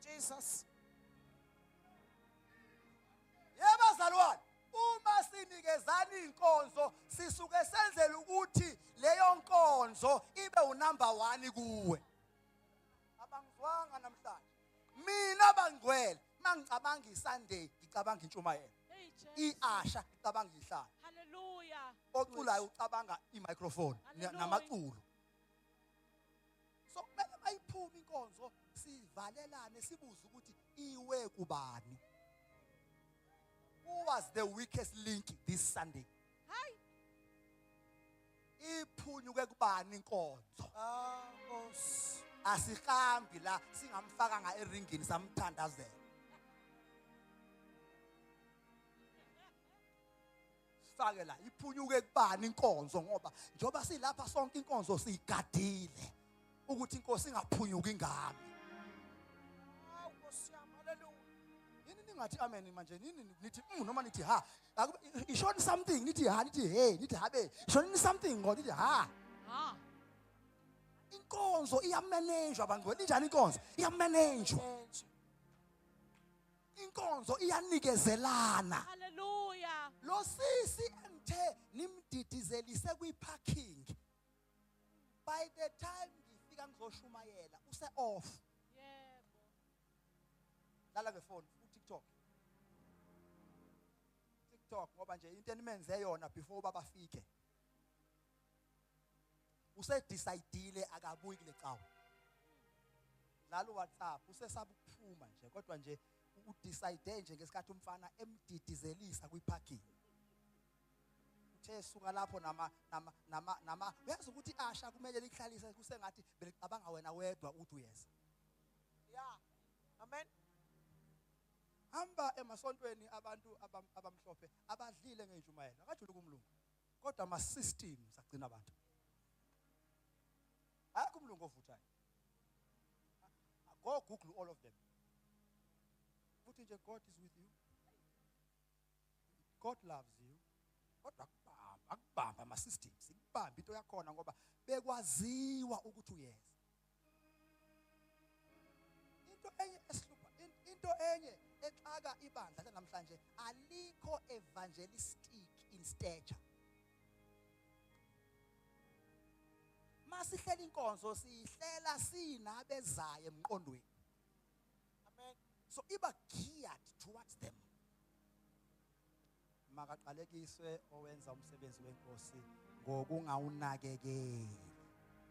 Jesus yebazalwane uma sinikezana inkonzo sisuke senzela ukuthi leyo nkonzo ibe unumber 1 kuwe abangizwanga namhlanje mina bangcwele mangicabanga isunday ngicabanga intshumayelo iasha ngicabanga ihlala haleluya oculayo ucabanga imicrophone namaculo so kumele mayiphuma inkonzo sivalelane sibuze ukuthi iwe kubani who was the weakest link this sunday hayi iphunyuke kubani inkonzo ah nkosi asihambi la singamfakanga eringini samthandazela sifake la iphunyuke kubani inkonzo ngoba njengoba silapha sonke inkonzo siyigadile ukuthi inkosi ingaphunyuki ngami hawu nkosi yami haleluya yini ningathi amen manje nini nithi mm noma nithi ha ishoni something nithi ha nithi he nithi habe ishoni something ngoba nithi ha ha inkonzo iyamanejwa bangcwele injani inkonzo iyamanejwa inkonzo iyanikezelana haleluya lo sisi engithe nimdidizelise kwi-parking by the time ngifika ngizoshumayela use-off yebo lala ngefoni utiktok tiktok ngoba nje into enimenzeyona before uba bafike usedecide akabuyi kule cawa dlala uwhatsapp usesaba ukuphuma nje kodwa nje udecide nje ngesikhathi umfana emdidizelisa kwiparking uthe suka lapho nama nama nama nama uyazi ukuthi asha kumele likuhlalise kusengathi belicabanga wena wedwa ukuthi uyeza yeah amen hamba emasontweni abantu abamhlophe abadlile ngenjumayelo akajuluka umlungu kodwa ama systems agcina abantu akho umlungu ovuthayo go google all of them futhi nje god is with you god loves you kodwa akubamba akubamba ama systems ikubamba into yakhona ngoba bekwaziwa ukuthi uyeza into enye esihlupha into enye exaka ibandla lanamhlanje alikho evangelistic in stature masihlela inkonzo siyihlela sinabezayo emqondweni amen so iba geared towards them makaqalekiswe owenza umsebenzi wenkosi ngokungawunakekeli